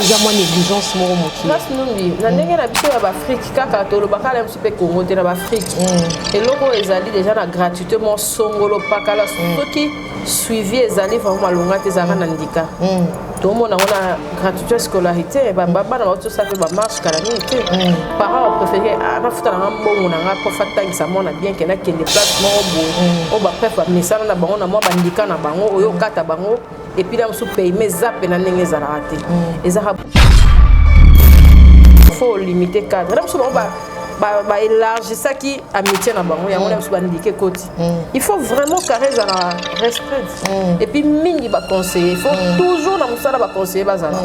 eza mwa négligence moko mokili place numbi na ndenge na biso ya baafrike kaka tolobaka na biso mpe kongo te na baafrike mm. eloko oyo ezali deja na gratuité mwa songolo pakala mm. soki suivi ezali vraimen malonga te ezalaka na ndika mm. tomona yango na gratuité scolarité bana baotosa mpe bamarche kala mingi te parent bapréféré ah, nafuta nanga mbongo na nga prof atangisa mwana bien ke nakende place moko boye oyo bapref bamesana na bango na mwa bandika na bango oyo okata bango et puis là on se paye mais zappe na ndenge za raté mm. et ça faut limiter cadre là on se va baélargisaki amitié na bango yango na biso bandike koti il faut vraiment carré ezala respect mm. et puis mingi baconseiller il faut mm. toujours na mosala baconseiller bazala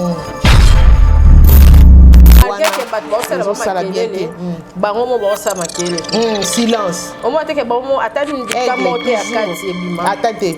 bato baosala bamakelele bango mo baosala makelele silence omona teke bango mo ata ndika moko te ya kati ebima ata te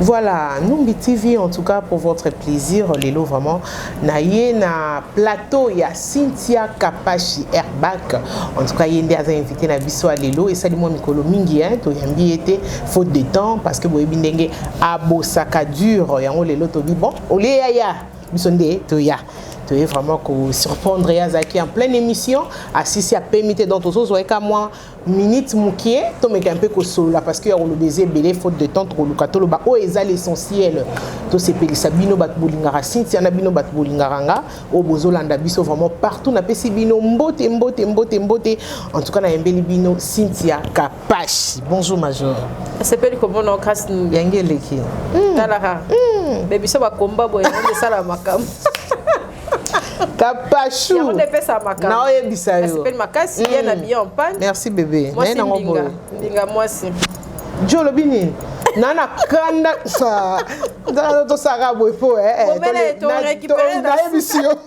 Voilà, Numbi TV en tout cas pour votre plaisir. Lelo vraiment, na ye na plateau ya Cynthia Kapashi Airbag. En tout cas, yende aza invité na biso à Lelo et sali moi mikolo mingi hein, to yambi été faute de temps parce que boyebi ndenge abosaka dur yango lelo to bi bon, au lieu ya ya biso nde to ya. toye vraiment kosurprendre ye azalaki en pleine émission asisi apemi te donc tozozwa ye ka mwa minute mukie tomeka mpe kosolola parce que ya koloba eza ebele faute de temps tokoluka toloba oyo oh, eza l'essentiel tosepelisa bino bato bolingaka sintia na bino bato bolingaka nga oyo oh, bozolanda biso vraiment partout napesi bino mbote mbote mbote mbote en tout cas nayembeli bino sintia kapashi bonjour major esepeli komona okasi yange eleki hmm. talaka hmm. me biso bakomba boye esala makambo Kapachou. Yango nde pesa makambo. Na oyebisa yo. Nasepeli makasi ye na mm. bien en panne. Merci bébé. Mwasi ndinga, ndinga mwasi. Jo olobi nini? na na kanda sa nzala tosaka boye po nayebisi yo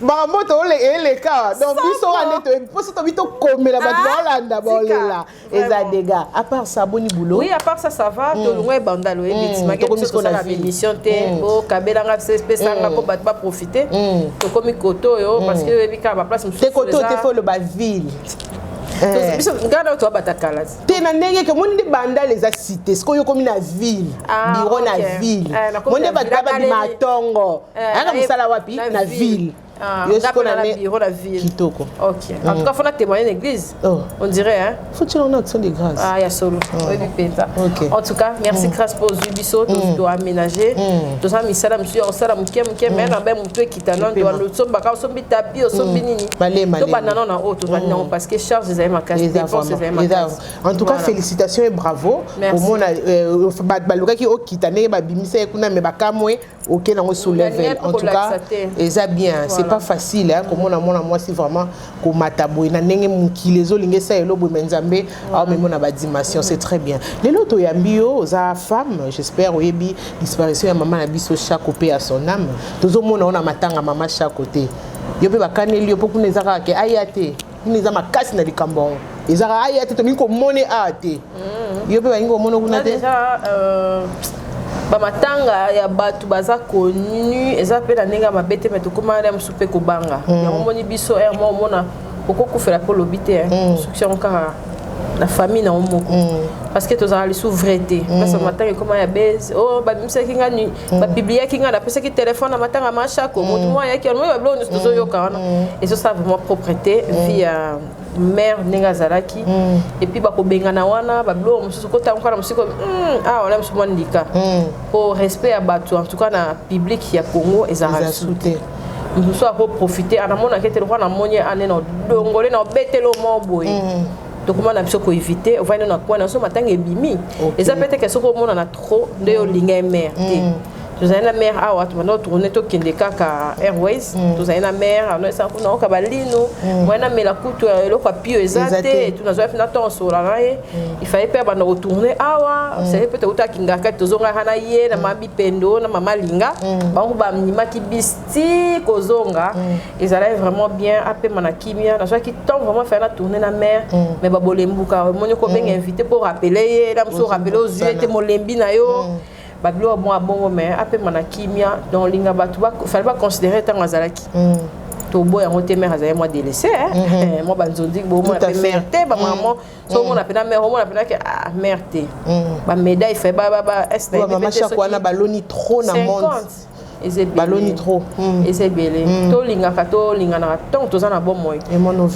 makambo toeleka donc biso wana mposo tobi tokomela bato baolanda baolela eza dega à part ça boni boulot oui à part ça ça va mm. tolongwa ebanda loye mm. bitimaki biso tosala bémission te mm. bokabelanga pesanga mpo bato baprofite tokomi koto oyo parce que oyebi kaka baplace mosusu te koto te fo oloba ville Eh. biso ngai nao tobabata kala te na ndenge ke omoni nde bandal eza cité sikoyo okomi na ville ah, biro na ville eh, moni nde bato babadi matongo eh, ayaka mosala wapi na ville Ah, yo siko na ne bureau la ville kitoko OK en tout cas faut na témoigner l'église oh. on dirait hein faut tu en action de grâce ah ya solo oh. oui penta OK en tout cas merci mm. grâce pour du biso to mm. doit aménager mm. to ça misala monsieur on sala muke muke mais na ba mutu kita non doit le somba ka sombi tapi o sombi nini to ba non na auto ba non parce que charge des ma casse dépenses des ma casse en tout cas félicitations et bravo au mona euh, ba ba lokaki o kita ne ba bimisa kuna mais ba kamwe oke nango sous level en tout cas eza bien c'est pas facile hein, komona mwana mwasi vraiment komata boye na ndenge mokili ezolinga esa elo boye me nzambe aomemo na badimension c'est très bien lelo toyambi yo oza femme j'espère oyebi disparition ya mama na biso chaque mpe ya son âme tozomona yo na matanga mama chaque te yo mpe bakaneli yo mpo kuna eza kaka ke aya te kuna eza makasi na likambo yango ezaka aya te tolingi komone awa te mm. yo mpe balingi komona kuna te euh, bamatanga ya bato baza connu eza mpe na ndenge ya mabe te me tokóma na mosusu mpe kobanga mm. yango omoni biso r mo omona okokufela mpe olobi te mm. succès yango kaka na famille na yo moko parce que tozalaka lisusu vrai te place bamatanga ekóma ya base o oh, babimisaki ngai Mm. bapibliaki ngai napesaki telefone na matanga ma shako mm. motu mwa ayaki wana babiloko nyonso tozoyoka mm. wana ezosala vraiment propreté vie ya mare ndenge azalaki epuis bakobengana wana babiloko mosusu kotango kaka na mosiko awa ah, wana mosu mwa ndika mpo respect ya bato en tout cas na publique ya congo ezalaka su te mosusu akoprofite anamonaki ete lokwa namoni ane na odongole na obetelo mwa boye dokuma na biso koevite ovandi no na kwana na biso matanga ebimi eza mpe teke soki omonana trop nde yo olinga ye mare te mm. tozali na mare awa tobanda otourne tokende kaka airways mm. tozali na mare anoesa kuna oka balino mm. moye namela kutu ya eloko ya pio eza te tunazwaki mpe na ntango osola na ye ifali mpe abanda kotourne awa sali mpe toutaki ngakati tozongaka na ye na mama bipendo na mama linga bango bamimaki bis ti kozonga mm. ezalaki vraiment bien apema na kimia nazwaki temps vraiment fai na tourne na mare mm. mais babolembuka omoni kobenga mm. invité mpo orapele ye na mosu orapele ozwi ye te molembi na yo babiloko mwa bongo mais apema na kimia donc olinga bato fali baconsidere ntango azalaki toboya yango te mare azali mwa délaissé mhm. mwa banzonzi bomona mpe mare te bamamo so omona mpe na mare omona mpe nake ah mare te bamédaille fai ba ba ba est na wana baloni trop na monde baloni trop hmm. eza ebele hmm. tolingaka tolinganaka ntango toza na bomoi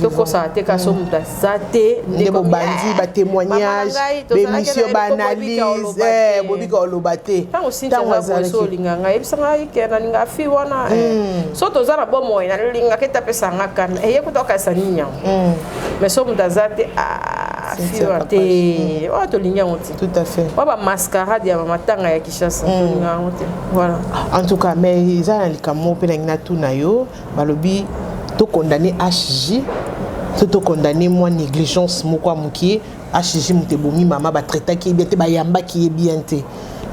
tokosaka te kasi hmm. moto aza te nde bobandi eh, batémoignage bémission baanalyse eh, bobika oloba te ntango sintiazaboso olinga ngai yebisa ngai ke nalinga fi wana eh. so toza na bomoi nalingaka ete apesa nga kana eye kuta okanisa nini yango mais so moto aza te ah, fi wana te oyo tolingi yango te oyo bamascarade ya matanga ya Kinshasa mm. tolinga yango te voilà en tout cas mais eza na likambo moko mpe nangi natuna yo balobi tokondane hg so tokondane mwa négligence moko ya mokie hg moto ebomi mama batraitaki ye bien te bayambaki ye bien te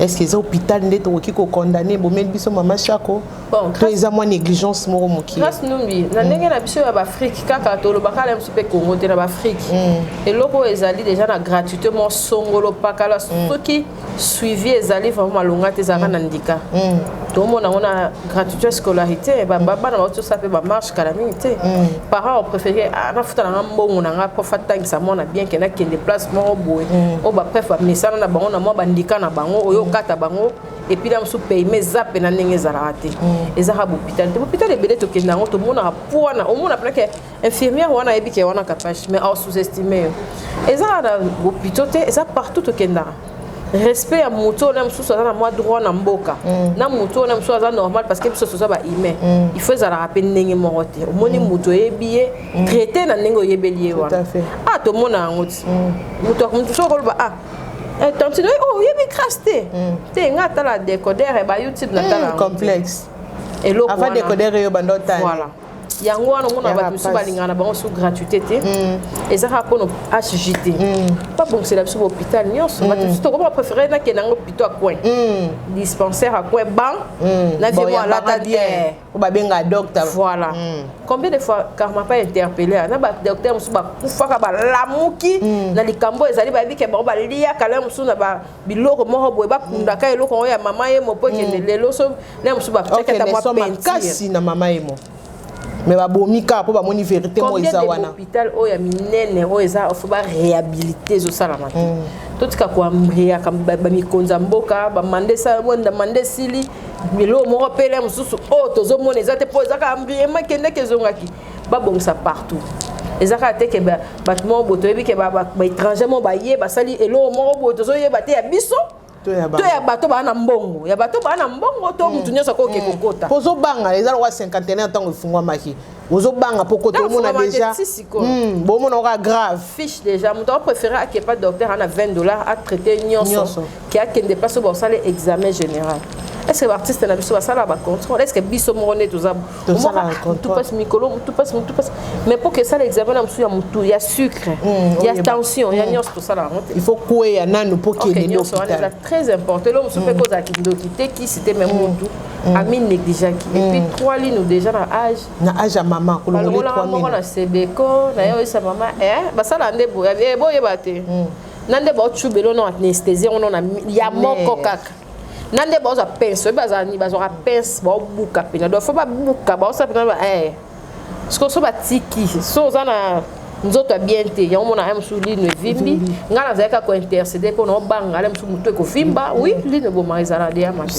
est ce que eza hôpital nde tokoki kokondane ebomeli biso mama shako bon, to eza mwa négligence moko mokie grâce numbi na ndenge mm. na biso ya baafrike kaka tolobaka na biso mpe kongo te na baafrike mm. eloko oyo ezali deja na gratuité mwa songolo pakala mm. soki mm. suivi ezali vraiment malonga te ezalaka na ndika mm. tomona yango na gratuité scolarité bana bauti osala mpe bamarche kala mingi te mm. parent opréféré ah, nafuta nanga mbongo na nga mpo fatangisa mwana bien ke nakende place moko boye mm. oyo bapref bamesana na bango na mwa bandika na bango oyo okata bango epuis na mosusu payema eza mpe na ndenge ezalaka te ezaka bopitali te bopitali ebele tokende yango tomonaka pwana omona mpenake infirmière wana ayebi ke wana kapash mais au sous-estime yo eza kaka na hopitaux te eza partout tokendaka respect ya moto oyo na mosusu aza na mwa droit na mboka mm. na moto oyo na mosusu aza normal parce que biso toza ba humain mm. il faut ezalaka mpe ndenge moko te omoni mm. moto oyebi ye traité na ndenge oyebeli ye wana ah tomona yango ti moto mosusu okoloba ah eh, tantine oh, oyebi crasse te te nga atala decoder ba youtube natala complexe eloko wana avant decoder yo banda otala yango wana omona bato mosusu balingaka na bango su gratuité te mm. eza kaka mpo no hg te mm. babongisela biso bahôpital nyonso mm. bato mosusu tokoma préféré nakende yango pito acoin dispensaire acoin ban na vie mo alata bien babenga docteur voilà combien de fois karma pa interpellé na badocteur mosusu bakufaka balamuki na likambo ezali bayebi ke bango baliyaka lelo mosusu na biloko moko boye bakundaka eloko yango ya mama ye mopo ekende lelo so na mosusu batiaki ata mwa makasi na mama emo me babomi kaka mpo bamoni verité moko eza wana hôpital oyo ya minene oyo eza fo barehabilité ezosalama te mm. totika koambriaka bamikonzi ya mboka bamanda esala bonda manda esili biloko moko pele mosusu oyo tozomona eza te mpo eza kaka ambriema ekendaki ezongaki babongisa partout eza kaka te ke bato moko boye toyebi ke baétranger moko baye basali eloko moko boye tozoyeba te ya biso to ya bato baa na mbongo ya bato baa na mbongo to hmm. motu nyonso akoki hmm. kokota mpo ozobanga eza lokola cinquantenaire ntango efungwamaki ozobanga mpo kota omona déjà hmm, bomona oka grave fiche déjà moto apréféré ake pas docteur ana 20 dollars atraite nyonso ke akende place oyo basala examen général est ce que baartiste na biso basala bacontrôle est ce que biso moko nde toza topasi mikolo topasi motu pasi mais mpo kesala examen na mosusu ya motu ya sucre mm, ya tension ya mm. nyonso tosala yango te il faut kweya nanu mpo kedenyonso wana eza très important elo mosusu mpe mm. kozala kindoki te kisi te me motu ami négligeaki epuis trois lino déjà na age na age ya mama kolongolaka moko na sebeko na ye oyesa mama eh, basala nde boyeba eh, te na nde baotubelo na anesthésie yango na ya moko kaka na nde bazwa pince oyebi bazala nini bazwaka pince baobuka mpena donc fo babuka baosala mpena ba eh. siko so batiki so oza na nzoto ya bien te yango mona ya mosusu lino evimbi ngai nazali kaka kointercede mpo na obanga ala mosusu motu ekovimba wi lino ebomaka ezala deya mabe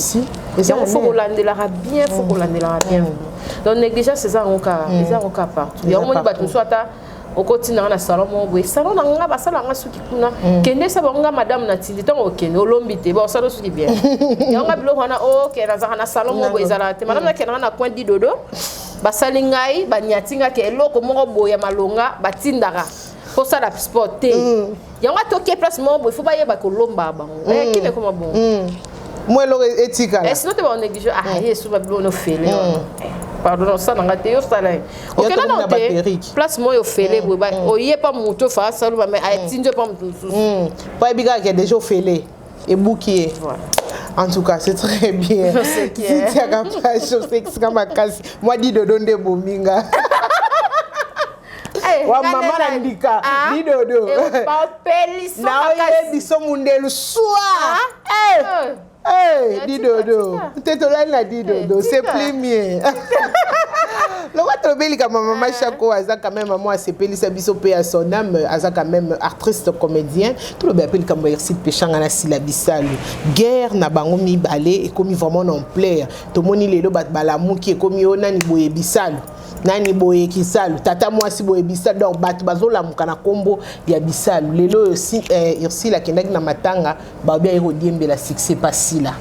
yango fo kolandelaka bien fo kolandelaka bien donc négligence eza yango kaka eza yango kaka partout yango moni bato mosusu ata okotinda nga na salon moko boye salon na nga basala nga suki kuna mm. kende sa bango nga madame na tindi ntango okende olombi te basala suki bien yango nga biloko wana oke oh, nazalaka na salon moko boye ezalaka te madame mm. nakendaka na coin didodo basali ngai banyati nga ke eloko moko boye ya malonga batindaka kosala sport te mm. yango atoke place moko boye fo bayeba kolomba bango mm. eh, kime koma bongo mm. mwa eloko e-, etikala eh, sino te baoneglige ah mm. yesu babibo nofele pardon osala nga te osala ye okenda nao te place moi ofele boye ba oye mpa motu ofa asaloma mai atindi mpa motu mosusu mpo ayebi kaka ke deja ofele ebuki ye En tout cas, c'est très bien. C'est Titia Kapacho, c'est Kamakasi. Moi, dit de Donde Bominga. Eh, wa mama na ndika ah, lidodo eh, naoye biso mundelu swa lidodo ah, te tolali na lidodo eh, c'est plus mieux lokola tolobi likambo ya mama shako ah. aza quand même mamo asepelisa biso mpe ya son ame aza quand même artiste comédien tolobela mpe likambo ya irside peshanga na sila bisalu guerre na bango mibale ekomi vraiment na ampleur tomoni lelo bato balamuki ekomi yo nani boye bisalu nani boye kisalu tata mwasi boye bisalu donc bato bazolamuka na nkombo ya bisalu lelo oyo si, eh, ursile akendaki na matanga baobi aye kodiembela succès pasila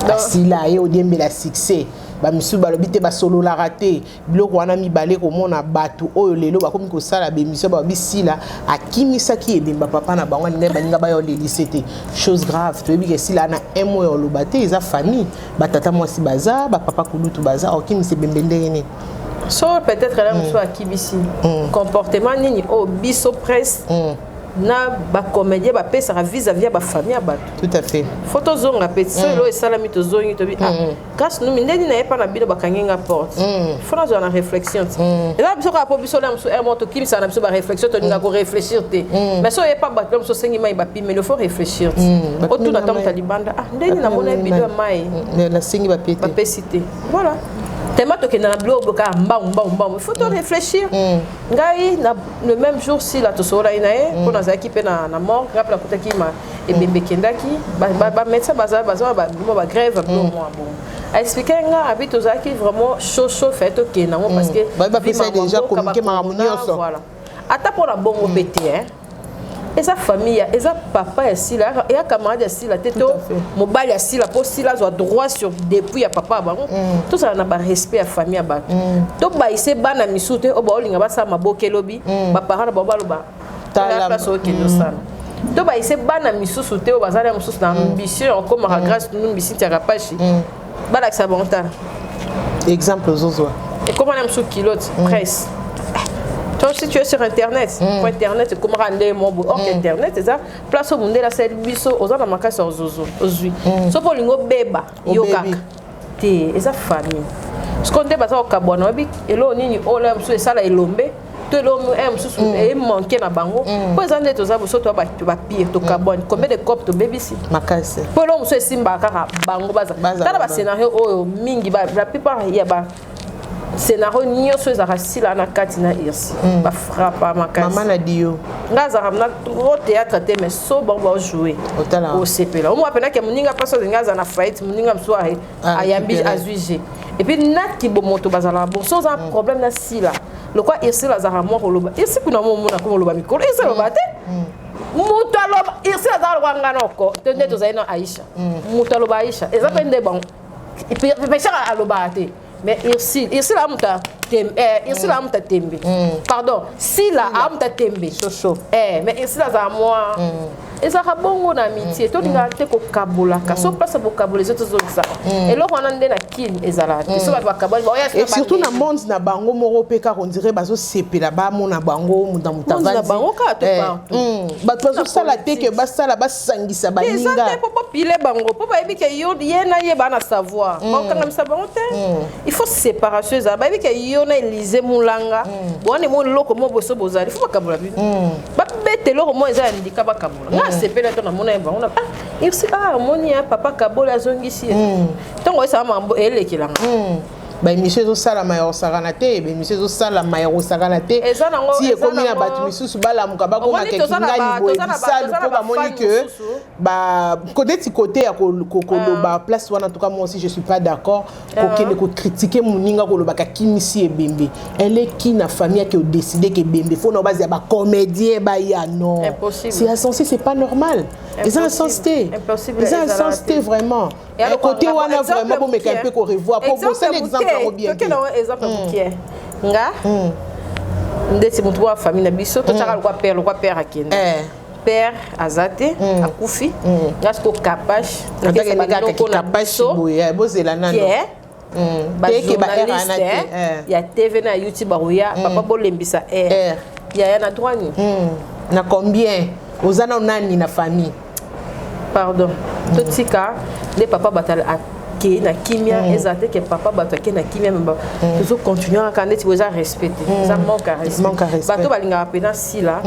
pasila aye kodiembela succès bamisusu balobi te basololaka te biloko wana mibale komona bato oyo lelo bakomi kosala bemisio balobi sila akimisaki ebemba papa na bango alingai baninga bayo lelise te chose grave toyebi ke sila na un mois oloba te eza famille ba tata mwasi baza ba papa kulutu baza okimisi bembe ndenge nini so peut-être là mosusu akibisi mm. comportement nini oyo oh, biso presse mm. na bacomédien bapesaka vis à vis ya bafamille ya bato tout à fait fo tozonga mpe so elo esalami tozongi tobi ah, kasi numi nde nini nayepa na bino bakangi nga porte fo nazwa na réflexion te eza biso kaka mpo biso na mosusu mo tokimisaka na biso baréflexion tolinga korefléchir te mais so oyepa bato na mosusu osengi mai bimelo faut réfléchir ti mm, otuna ntango ta libanda ah ndenge namona ye bido ya mai mm, nasengi bapete bapesi te voilà tellement tokenda na bilo oboka mbangu mbangu mbangu faut to mm. réfléchir ngai na le même jour sila tosololaki na ye mpo nazalaki mpe na morgue ngai mpe nakutaki ma ebembe ekendaki bamédecin baza baza babima bagrève bilo mwa bongo aexplike nga abi tozalaki vraiment chaud chaud fai tokenda yango parce que déjà communiqué makambo nyonso ata mpo na bongo mpe te hein eza famille ya eza papa ya sila ya camarade ya sila te to mobali ya sila mpo sila azwa droit sur depuis ya papa ya bango mm. tozala na barespect ya famille ya bato mm. tobayise bana misusu te oyo baolinga basala maboke elobi mm. baparent na bango baloba tala place okende osala tobayise bana misusu te oyo bazali ya mosusu na ambition okomaka grace numbisi ntiaka pashi balakisa bango tala exemple ozozwa ekoma na mosusu kilote mm. presse donc si tu es sur internet mm. po internet ekomaka nde mobo or mm. internet eza place oyo mondele asali biso oza na makasi ya ozozo ozwi mm. soki olingi obeba yo kaka te eza famille sikoyo nde baza kokabwana oyebi eloo nini oyo na mosusu esala elombe to elomo eh, mosusu mm. eh, emanke na bango mm. mpo eza nde toza bosoto bapire tokabwani mm. combien de cop tobebisi makasi mpo eloko mosusu esimbaka kaka bango bazatala bascenario oyo mingi la plupart ya ba scénario nyonso ezalaka sila na kati na irsi bafrapa makasi nga azalaka na trop théâtre te mais so bango baojoue osepela omwa mpenake moninga mpasi olinga aza na faillite moninga mosusu Ah, ayambi azwi je epuis naki bomoto bazalaka bon so oza mm. problème na sila lokwa irsile azalaka mwa koloba irsi kuna mo omona koma oloba mikolo irsi aloba te mm. moto aloba irsi azalaka lokwa nga noko to nde mm. tozali na aisha moto aloba aisha eza mpe nde bango peshaka alobaka te mais Ursule, Ursule amuta tembe, eh, Ursule mm. amuta tembe. Mm. Pardon, Sila amuta tembe. Soso. Eh, mais Ursule aza moi. Mm. ezalaka bongo na amitie mm. tolingaka mm. te kokabolaka mm. so place bokabola ezo tozongisaka eloko wana nde na kin ezalaka te so bato bakaboli baoya surtout na monde na bango moko mpe kaka ondire bazosepela bamona bango muta mutabango kaka to eh, partout bato bazosala te ke basala basangisa baninga te mpo bopile bango mpo bayebi ke yo ye na ye baa na savoir bakokangamisa bango te il faut séparation ezala bayebi ke yo na elise mulanga bowana emo eloko mo boso bozali fo bakabola bino babeta eloko moko eza ya ndika bakabola nga asepela to namona ye bango na ah irsi ah omoni ya papa kabola azongisi ye ntongo esala mambo elekelanga baemission ezosalama ya kosakana te baemission ezosalama ya kosakana te ti ekomi na bato misusu balamuka bakoma kekingani boye bisalu mpo bamoni ke kodeti kote ya koloba place wana tuka moi aussi je suis pas d'accord kokende kokritike moninga kolobaka kimisi ebembe eleki na famille ake odeside ke ebembe fo na base ya bacomédien baya non c'est insensé c'est pas normal eza na sens te eza na sens te vraiment côté wana vraiment bomeka mpe korevoir mpo bosali exemple yango bien te nga ndeti motu wa famille na biso totyaka lokwa père lokwa père akende père aza te mm. akufi mm. nga siko kapash bozela nano eh, mm. bajournaliste eh, eh. ya tv na youtube bakoya papa bolembisa air yaya na droit ni na combien oza na nani na famille pardon totika nde papa batala ke na kimia mm. ezala te ke papa bato ake na kimia me mm. tozo continue kaka ndeti boye eza respect te mm. eza manque ya respect bato balingaka mpena sila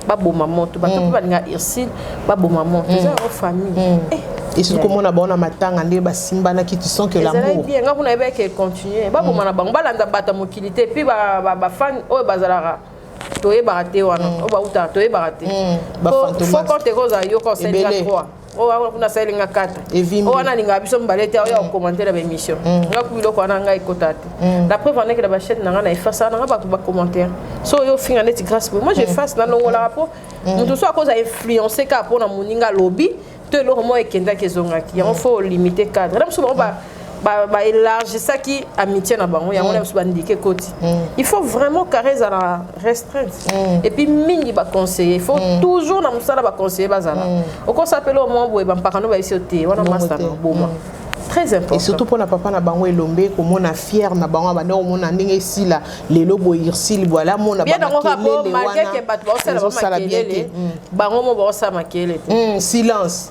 baboma moto bato mpe balingaka ursile baboma moto eza yango famille eh, esuki komona bango na matanga nde basimbanaki tu sens que lamour bien nga kuna yebaki ke continue baboma na bango balanda bato ya mokili te mpe bafani oyo bazalaka toyebaka te wana oyo bautaka toyebaka te fo compte ekozala yo conseil ya 3 oyo wana kuna asaleli nga kata oyo wana alingaka biso mibale te oyo akokomante na baémission mm. nga ku biloko wana ngai ekota te mm. la preuve andeke na bachaine na ngai na efase wana nga bato bacommentaire so oyo ofinga neti grâce boye moi j'efase mm. nalongolaka mpo moto so akoza influence kaka mpo na moninga alobi to eloko moko ekendaki ezongaki yango fo limite cadre na biso bango ba, ba élargissaki amitié na bango yango mm. na biso bandike koti mm. il faut vraiment carré ezala restreinte mm. et puis mingi baconseiller il faut mm. toujours na mosala baconseiller bazala mm. okosapela omwa boye bampakano bayebisi yo te wana masta na oboma mm. très important et surtout pona papa na bango elombe komona fier na bango abanda komona ndenge esila lelo boye ursile bwala mona bangokelele wana ezosala bien te bango mo baosala makelele te silence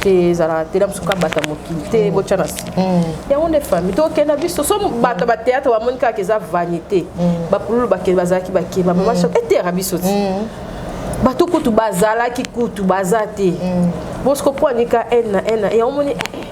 te ezalaka te na mosuku abata mokili te mm. botya na si mm. yango nde famille tokenda biso so bato ba théâtre bamoni kaka eza vanité mm. bapululu bakende bazalaki bakeba mama soko eteyaka biso ti bato kutu bazalaki kutu baza te bosiko mpo anika n na n na yango moni eh, eh,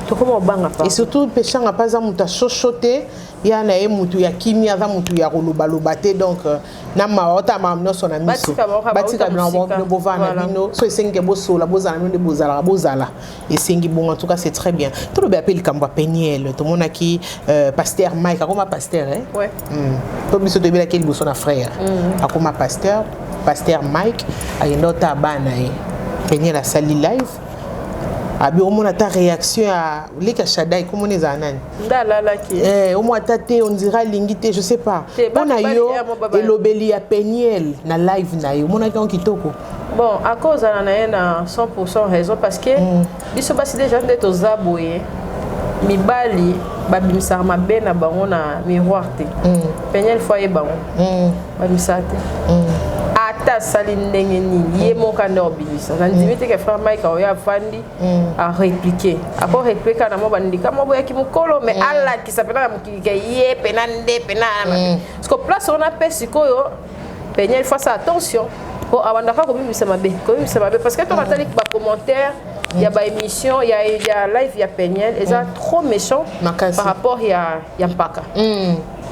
tokoma obanga pa et surtout peshanga mpe aza moto ya shosho te ya na ye moto ya kimia aza moto ya kolobaloba te donc euh, na mawa ota mawa nyonso na miso batika bino bango bino bovanda na bino so esengi ke bosola bozala bino nde bozalaka bozala esengi bongo en tout cas c'est très bien tolobi ape likambo ya peniel tomonaki euh, pasteur mike akoma pasteur eh? ouais. mm. to biso toyebelaki liboso na frère mm. akoma pasteur pasteur mike akenda ota bana ye peniel asali live abi omona ata réaction ya leka shadai komona ezala nani nde alalaki eh, omo ata te ondira alingi te je sais pas mpo na yo elobeli ya peniel na live na ye omonaki yango kitoko bon akozala na ye na 100 raison parce que mm. biso basi deja nde toza boye mibali babimisaka mabe na bango na miroir te mm. peniel fo aye bango mm. babimisaka te mm. ata asali ndenge nini ye moko ande obimisa nandimi mm. te ke frère mike aoyo afandi Mm. a répliquer ako répliquer na mwa bandika mwa boyaki mokolo mais mm. alakisa mpena na mokili ke ye mpena nde mpena mm. parce que place wana mpe sikoyo penia il faut asala attention mpo abandaka kobimisa mabe kobimisa mabe parce que toka tali bacommentaire ya baémission ya, ya live ya peniel eza trop méchant par rapport ya, ya mpaka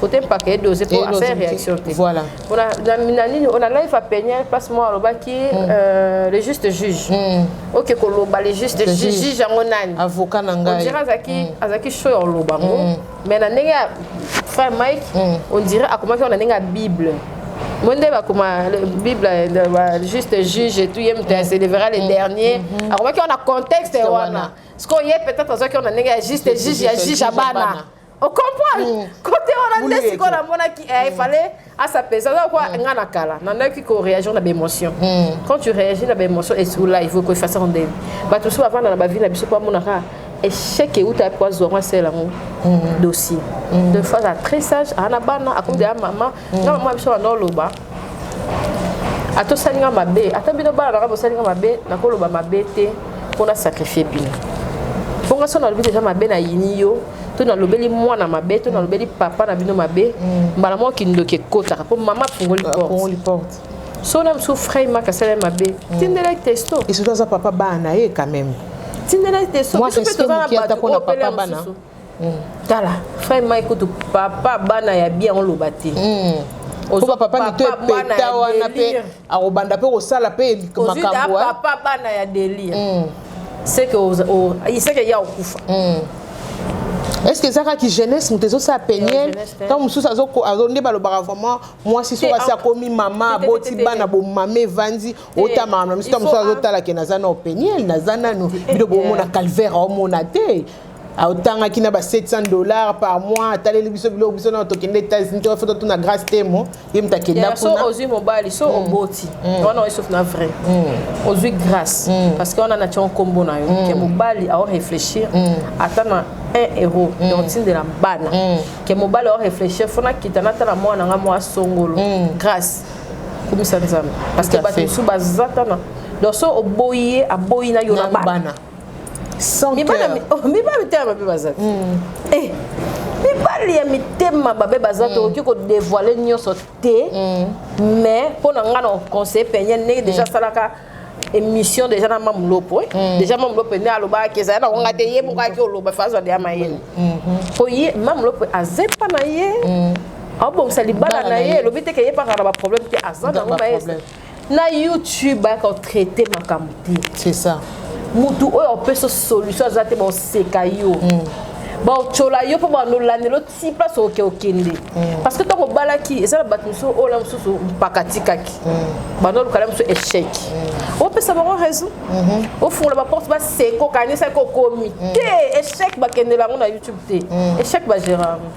kote mpaka edose mpo asa réaction te voilà na nini ona live apenia place moko alobaki mm. euh, le juste juge mm. oke koloba le juste juge yango nani avocat na ngai ondire azalaki mm. azalaki show ya koloba yango mais na ndenge ya frère mike ondire akomaki na ndenge ya bible mo nde bakoma bible juste juge etout ye moto ya célébra le dernier mm-hmm. akomaki wana contexte wana sikoyo ye peut-être azwaki wana ndenge ya juste juge ya juge ya bana o comprendre mm. kote wana nde sikoyo namonaki eh, il mm. fallait asapesa donc kwa mm. nga na kala nandaki ko réagir na baémotion quand tu réagis na baémotion esuku live oko efasa ndenge bato mosusu bavanda na bavie na biso mpo amonaka échec euta mpo azwa ngo asala yango dossier de fois a très sage ana bana akomi deya mama mm. na mama biso banda oloba ata osali nga mabe ata bino bana nanga bosali nga mabe nakoloba mabe te mpo na sacrifie bino mpo nga so nalobi deja mabe na yini yo to nalobeli mwana mabe to nalobeli papa na bino mabe mm. mbala moko kindoki ekotaka mpo mama afungoli porte so na mosusu frai maka asala mabe mm. tindela testo esoto aza papa bana ye quand même tindela testo biso mpe toza na bato opele mosusu Hmm. tala frère mai kutu papa bana ya bien oloba te hmm. oba papa mito epeta wana mpe akobanda mpe kosala mpe makambo papa bana ya delire hmm. seke seke ya okufa est ce que ezaka ki jeunesse moto ezosala peniel ntango mosusu nde balobaka vraiment mwasi soki asi akomi mama aboti bana bomama evandi otamaka na misu ntango mosusu azotalake naza nao peniel naza nano bino bomona calvaire omona te aotangaki na ba 700 dollars par mois ataleli biso biloko biso nao tokende états-unis toka foto tuna grace temo ye moto akenda so ozwi mobali so mm. oboti mm. wana oyesof na vrai mm. ozwi grace parce que wana na tiango nkombo na yo ke mobali ao réfléchir ata na 1 euro na otindela bana ke mobali ao réfléchir fo nakita natala mwana nga mwa songolo grace kumisa nzambe parce que bato mosusu baza tana donc so oboyi ye aboyi na yo na bana mibali te mabe baza te eh, mibali ya mitema babe baza te mm. okoki kodevoile nyonso te mm. mais mpo na ngai na conseil penye ndenge deja asalaka mm. émission déjà na mamu lopo déjà mamu lopo nde alobaki ezali nango ngai te ye moko ayaki oloba fa azwa deya mayele mpo mm-hmm. ye mamu lopo azepa na ye aobongisa libala na ye elobi te ke ye pakaka na baproblème te aza nango mayele na youtube bayaka otraite makambo te c'est ça mutu oyo opesa solution aza te baoseka yo mm. baotyola yo mpo banolandela oti place oke okende mm. parce que ntango obalaki eza na bato mosusu oyo na mosusu mpaka atikaki mm. bando olukala mosusu échec mm. opesa bango raison mm-hmm. ofungola baporte baseko kanisaki okomi te échec bakendela yango na youtube te échec bagera yango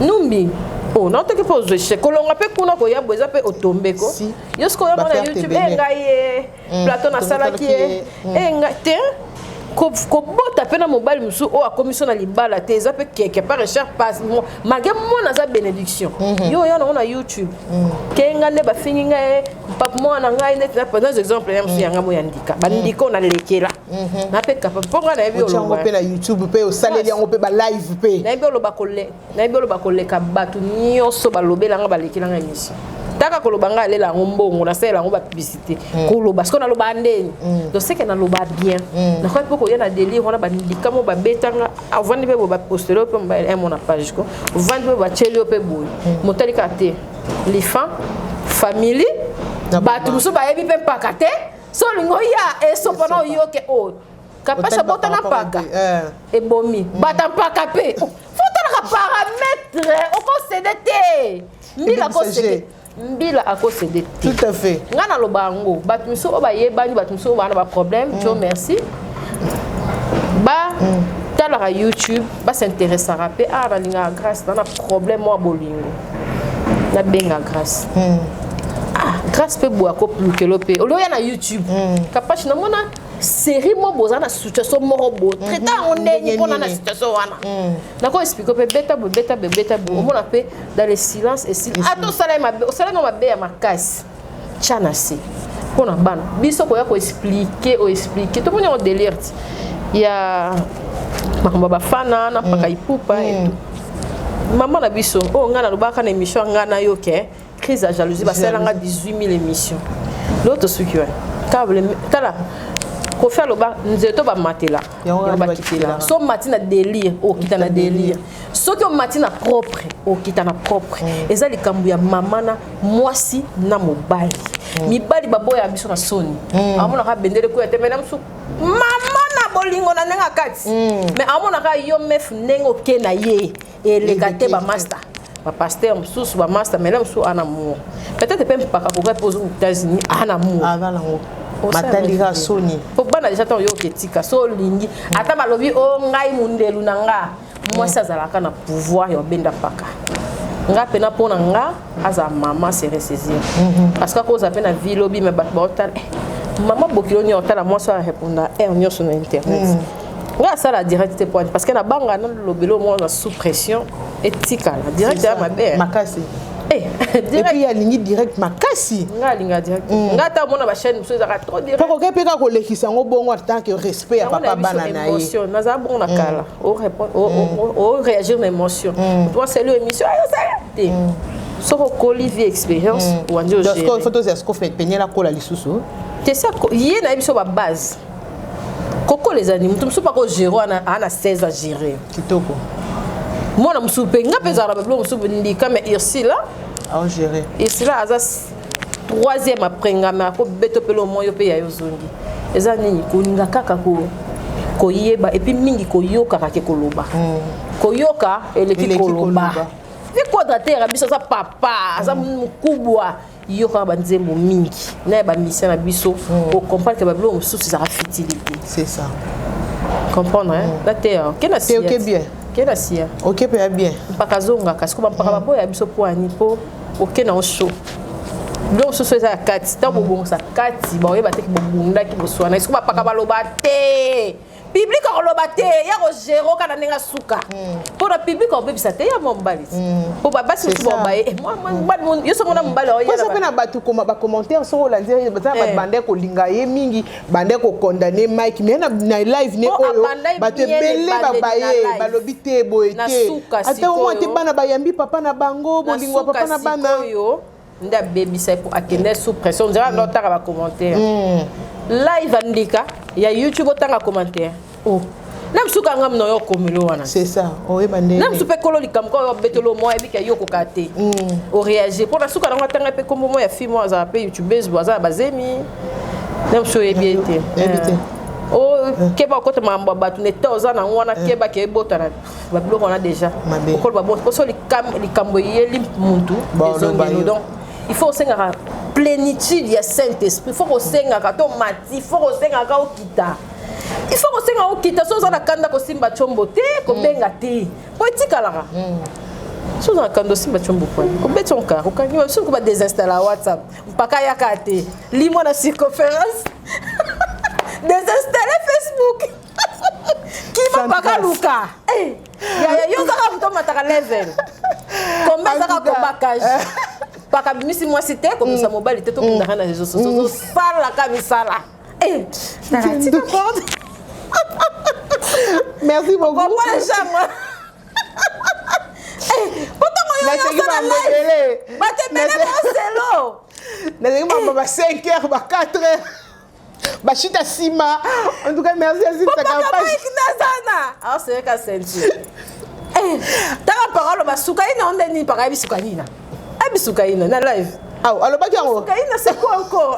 numbi oh na otoki mpe ozwa echec kolonga mpe kuna koya bo eza mpe otombe ko yo soki oya mona youtube e ngai ye mm, plateau nasalaki ye e mm. eh, ngai te kobota mpe na mobali mosusu oyo akomi so na libala te eza mpe keke par richard pas malgré mwana aza bénédiction mhm. yo oya nango na youtube mm. kenga nde bafingi ngai pape mwana na ngai neti naza exemple ya mosu yanga moya ndika bandika oyo nalekela mhm. nape capable mpo ngai nayebi olongo mpe na youtube mpe osaleli yango mpe balive mpe nayebi oloba nayebi oloba koleka bato nyonso balobela ngai balekela ngai miso taka koloba ngai alela yango mbongo nasalela yango bapiblisité mm. koloba sikoyo naloba ndeni mm. toseke naloba bien mm. nakoki mpe koya na delire wana bandika mo babetanga avandi mpe bo bapostele yo mpe mbaele eh, mona page ko ovandi mpe batyeli yo mpe boye motali kaka te lifa famili bato mosusu bayebi mpe mpaka te so olingi oya esopa na oyoke oyo oh, kapasha bota na mpaka eh. ebomi mm. bata mpaka mpe oh, fotalaka parametre okosede te mbila kosede mbila akosede te tout à fait ngai naloba yango bato mosusu oyo bayebani bato mosusu oyo baa na baproblème mm. jo merci ba mm. talaka youtube ba s'intéressaka mpe ah nalingaka grâce na na problème mwa bolingo nabenga grâce mm. ah, grâce mpe boya kolukelo mpe olioya na youtube mm. kapashi namona série moko boza na situation moko bo mhm. traita yango ndenge mpona na situation wana mm. nako explike mpe beta boye beta boye beta boye mm. omona mpe dans le silence esili ata osala ye mabe osala yango mabe ya makasi tya na se mpo na bana biso koya koexplike oexplike tomoni yango delire ti ya makambo ya bafana na mpaka mm. ipupa mm. mama na biso oyo oh, ngai nalobaka na émission ya ngai na yo ke crise ya jalousie basala nga 18 000 émission lelo tosuki wana tala kofi aloba nzeto bamatela bakitela so mati na délire okita na délire soki omati na propre okita na propre mm. eza likambo ya mama na mwasi na mobali mm. mibali baboya biso na soni mm. amonaka bendele koya te mena mosusu mama na bolingo na ndenge kati mm. me amonaka yo mef ndenge oke na ye eleka te bamasta bapaster mosusu bamasta mena mosusu ana mour peut-être mpe mpaka kokai mpo ozonga états-unis ana mour matandika soni po bana deja ntango yo oketika so olingi ata balobi o oh, ngai mondelu na nga mwasi azalaka na pouvoir ya obenda mpaka nga mpena mpo na nga aza mama se ressaisir mhm. parce que akozala mpe na vie lobi me bato baotala eh, mama bokilo nini otala mwasi oyo areponda heure nyonso na internet mhm. nga asala direct te poani parce que na banga na lobelo moko na sous pression etikala direct ya mabe eh. makasi eh, epuis alingi direct makasi nga alinga direct mm. nga ata omona bachaine mosusu ezaka trop direct mpo koke mpe kaka kolekisa yango bongo atake respect ya papa bana na ye nazala bongo na mm. kala o répondre o, mm. o, o, o réagir na émotion mm. toi c'est le émission ayo ça te mm. soki okoli vie expérience mm. wandi ogere faut tozela siko peniel akola lisusu te sa ye na ye biso babase kokola ezali moto mosusu pako gere wana aa na 16 a gere kitoko mwana mosusu mpe nga mpe ezalaka babiloko mosusu ndika mais ursila aogere ursila aza troisième après nga mais ako beto pelo moyo pe ya yo zongi eza nini kolinga kaka ko koyeba et puis mingi koyokaka ke koloba hmm. koyoka eleki koloba vi quadratere biso aza papa aza hmm. mokubwa yokaka banzembo mingi na ya bamisio na biso hmm. okomprendre ke babiloko mosusu ezaka futilité c'est ça comprendre na te okenda siya okenda siya okepe ya bien mpaka azongaka sikoyo bampaka baboya biso mpo ani mpo oke na oso biloko mosusu eza ya kati ntango bobongisa kati baoyeba te bobundaki boswana esiko bapaka baloba te public akoloba te ya kogere oka na ndenge asuka mpo hmm. na public akobebisa te ya mwa mobali mpo hmm. basi mosusu babaye eh, hmm. yo songo na mobali oyepe na bato bacommentaire soki olandi baza na bato eh. banda kolinga ye mingi bande ko condamner Mike mais na, na live ne oh, oyo bato ebele babaye balobi te boye te ata omwa te bana bayambi papa na bango bolingo ya papa na bana nde abebisa po akende sous pression nzela mm. nde otanga bacommentaire mm. live andika ya youtube otanga commentaire oh. na mosusu kaka nga mino yo okomelo wana c'est ça oyeba nde na mosusu mpe kolo likambo kaka obetelo mwa yebi ke yo okoka te mm. oreagir mpo na suka nango atanga mpe nkombo mwa ya fille mwa azala mpe youtubeuse bo aza na bazemi na mosusu oyebi ye te okeba okota makambo ya bato neta oza nango wana eh. keba ke ebotana babiloko wana déjà okoloba bo mposo likambo eyeli muntu ezongelo donc il faut osengaka plénitude ya saint esprit il faut kosengaka to mati il faut kosengaka okita il faut kosenga okita so oza na kanda kosimba combo te kobenga te po etikalaka so oza na kanda osimba combo po obeti onka okangi ba soki badesinstalla whatsapp mpaka yaka te limwa na circonférence desinstalle facebook kima mpaka luka eh, yaya yo kaka moto omataka level kombe ezaka kobakage eh. pakabimisi mwasi te komisa mobali te tokendaka na reseau sociaux mm. osalaka misala Eh, Merci beaucoup. Bon, moi, j'aime. batemele baselo nazali mama ba 5 heures ba 4 heures bashita nsima en tout cas merci azitakapasnazana aosoyeka ah, senti eh, tanga parole basuka ina onde nini pakai bisuka ina abisuka eh, ina na live aw alobaki yango suka ina seko encore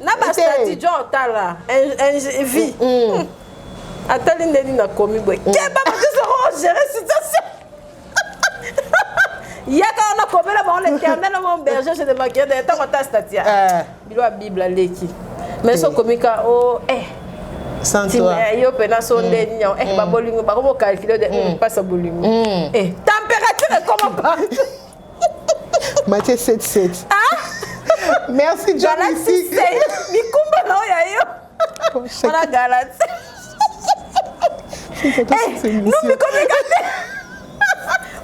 na ba statut John Tala vie mm. atali ndeni na komi boye mm. keba bakisa ko oh, gérer situation yaka wana komela bango l'éternel mon berger je ne manquerai de ntango ata statut eh. bilo ya bible aleki mais so komika o oh, eh eh, yo mpena so nde mm. nio eh babolingo bakobokalkile de mpasa bolingo eh température ekoma partout matie 77 ah? merci john mikumba na oyo ya yo wana galati numikomika te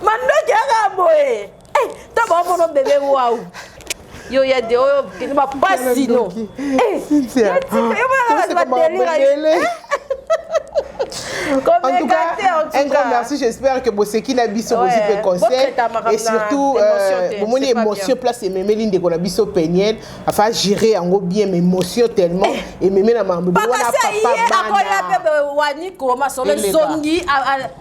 mandoki yaka boye eh, to baomono bebe wau yo ya de oyo kende ba pasi no eh ya tika yo ba ba delira En tout cas, un grand merci. J'espère que Boseki na biso ouais. bozipe conseil et surtout euh, bomoni émotion place et même l'une de la biso peniel enfin gérer en gros bien mais émotion tellement eh. et même la maman. Papa ça y est, à quoi la bébé wani comment sur le zongi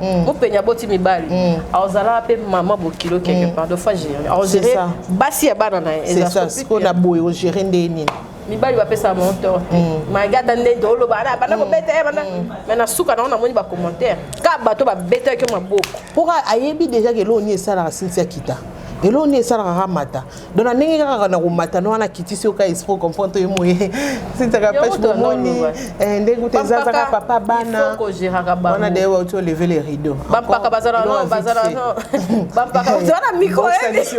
Mm. mopeni aboti mibali mm. azalaka mpe mama bokilo quelque mm. part de fois géré agéré basi ya bana na ye ezasikoyo na boye ogéré ndenge nini mibali bapesaka bango tort te magi ata ndenge tooloba ana banda kobeta ye banda mai na suka nango namoni bacommentaire ka bato babetaki yo maboko mpoka ayebi déjà ke eloo nini esalaka sinsi akita eloo nini esalaka kamata donc na ndenge kaka na komata no wana kitisi oka esprit comprendre toye moye sitaka page bomoni eh, ndenge uta ezazaka papa bana wana de wauti oleve le rideau bampaka bazala no bazala no bampaka ozala na micro ebi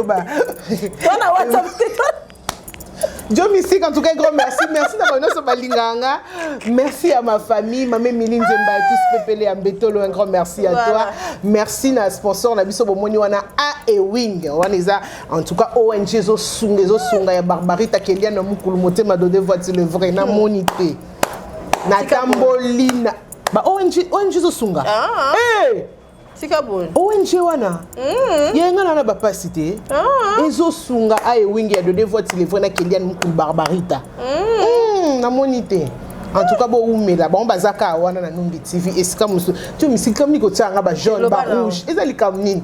wana whatsapp Joe Mystique, en tout cas, grand merci. Merci d'avoir nous sur Balinganga. Merci à ma famille, ma mère Miline Zemba, tous Pépélé, Ambetolo, un grand merci à voilà. toi. Merci à sponsor, la biso bomoni wana A et Wing. Wana En tout cas, ONG ezo sunga ezo sunga ya Barbarita Keliana Mukulu motema dode voiture le vrai na moni te. Na tambolina. Ba ONG ONG ezo sunga. Ah. Eh! tika boye ong wana mm. ye nga nana bapasi te ah. ezosunga aye wingi ya dode voiti levre na keliane mokulu barbarita mm. mm, namoni te en tout cas bowumela bango baza kaka wana na numbi tv esika mosusu to misikamni kotyanga bajaune barouge eza likambo nini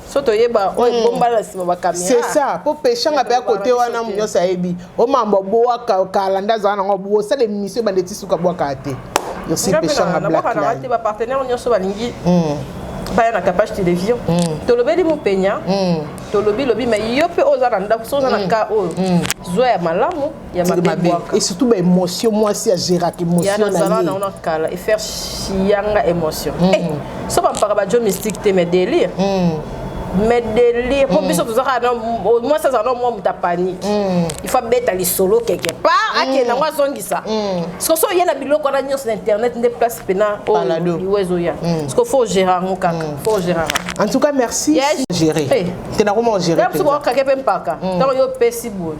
so toyeba oyo hmm. ebombana na nsima bakamera c'est ça mpo peshanga mpe ya kote wana nyonso ayebi o mambo bowaka kala nde azala nango bosala emission ebanda eti suka bwaka te yosi peshanga blackline bapartenaire nyonso balingi hmm. baya na capage télévision hmm. tolobeli mopenya tolobi lobi mai yo mpe oyo oza na ndako so oza na cas oyo zwa ya malamu et surtout ba émotion mwasi ya géraka émotion na zala na ona kala et faire chianga émotion mm. eh so ba mpaka ba jo mystique te mais délire mm. mais délire po mm. biso tozaka na moi ça zala moi muta panique mm. il faut beta li solo quelque part ake na ngwa zongisa parce que so yena biloko na nyos na internet nde place pena o iwezo ya parce que faut gérer ngo kaka faut gérer en tout cas merci gérer tena comment gérer tena ko kaka pe mpaka tango yo pesi boye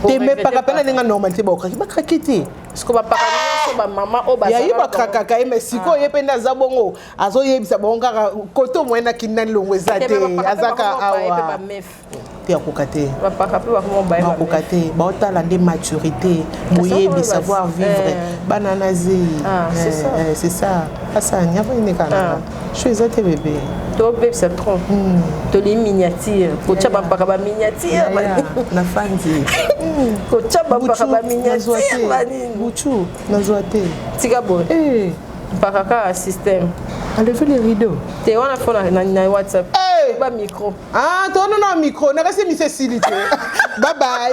te me paka pena ninga normal te bakaki bakaki te siko bapaka nyonso bamama oyo bayayi bakrakaka ye me sikoyo ye mpe nde aza bongo azoyebisa bango kaka kote omoye na kini nani longo eza te azaka awa mpe akoka te bakoka te baotala nde maturité boyebi savoir vivre bana na zeyi c'est ça asa nyama enekanaka Chou eza te bebe. To bebisa trop. Hmm. To li miniature. Ko tcha ba mpaka ba miniature. Na fandi. Ko tcha ba mpaka ba miniature. Buchu na zwa te. Tika boy. Eh. Mpaka ka système. Enlevez les rideaux. T'es on a fait na, na WhatsApp. Hey! Ba micro. Ah, toi non non micro. Na kasi mi se silite. bye bye.